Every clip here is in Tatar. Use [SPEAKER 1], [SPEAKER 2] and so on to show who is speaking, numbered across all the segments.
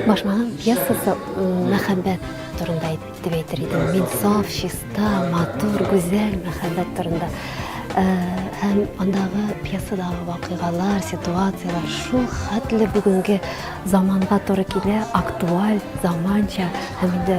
[SPEAKER 1] Башмагым пьесасы мәхәббәт турында дип әйтер идем. Мин саф, чиста, матур, гүзәл мәхәббәт турында. Э, һәм андагы пьесадагы вакыйгалар, ситуацияләр шул хәтле бүгенге заманга туры килә, актуаль, заманча һәм инде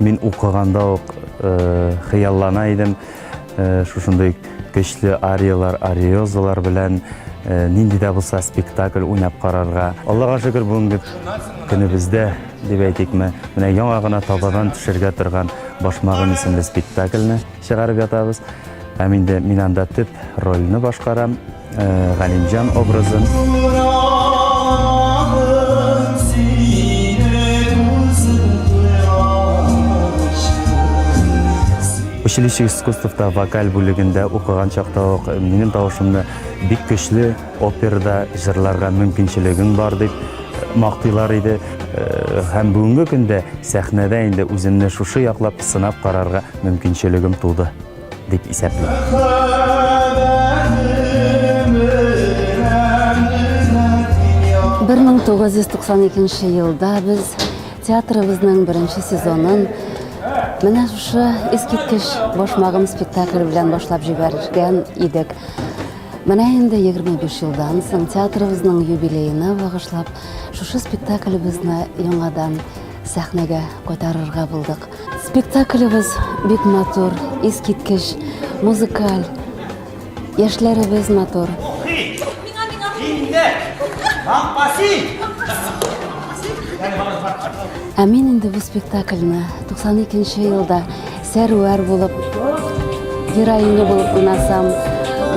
[SPEAKER 2] Мин укыганда ук э, хыяллана идем э, шушындый көчле ариялар, ариозалар белән э, нинди дә булса спектакль уйнап карарга. Аллага шөкер, бүгенге көнебездә дип әйтикме, менә яңа гына табадан төшергә торган Башмагым исемле спектакльне чыгарып ятабыз. Һәм инде мин анда төп рольне башкарам. Галимҗан образын. Училище искусствовта вокаль бүлегендә укыган чакта ук минем тавышымны бик көчле операда җырларга мөмкинчелегең бар дип мактыйлар иде. Һәм бүгенге көндә сәхнәдә инде үземне шушы яклап сынап карарга мөмкинчелегем туды. дип елда
[SPEAKER 3] без театрыбызның беренче сезонын менә шушы искиткеч башмагым спектакле белән башлап җибәргән идек. Менә инде 25 елдан соң театрыбызның юбилеена багышлап шушы спектаклебезне яңадан сәхнәгә кайтарырга булдык. Спектаклебез бик матур, искиткеч, музыкаль. Яшьләребез матур. Ә мин инде бу спектакльне 92 елда сәрвәр булып, героиня булып уйнасам,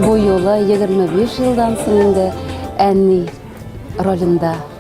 [SPEAKER 3] бу юлы 25 елдан соң инде әни ролендә.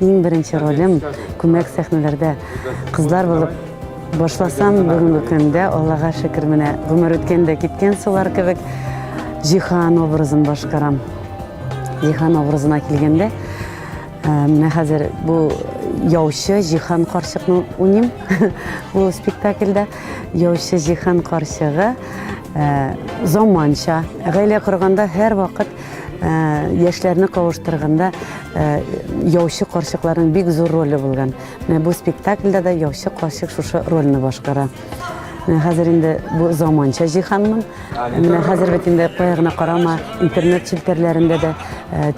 [SPEAKER 3] Иң беренче ролем күмәк сәхнәләрдә кызлар булып башласам, бүгенге көндә Аллага шөкер менә гомер үткән дә киткән сулар кебек Җихан образын башкарам. Җихан образына килгәндә, э, менә хәзер бу яучы Җихан карчыкны уйним. Бу спектакльдә яучы Җихан карчыгы э, заманча гаилә корганда һәрвакыт яшьләрне кавыштырганда яучы карчыкларның бик зур роле булган. Менә бу спектакльдә дә яучы карчык шушы рольне башкара. Менә хәзер инде бу заманча җиһанмын. Менә хәзер бит инде кая гына карама, интернет челтәрләрендә дә,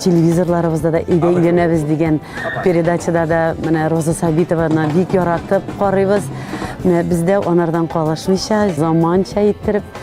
[SPEAKER 3] телевизорларыбызда да өйдә өйләнәбез дигән передачада да менә Роза Сабитованы бик яратып карыйбыз. Менә бездә анардан калышмыйча, заманча иттереп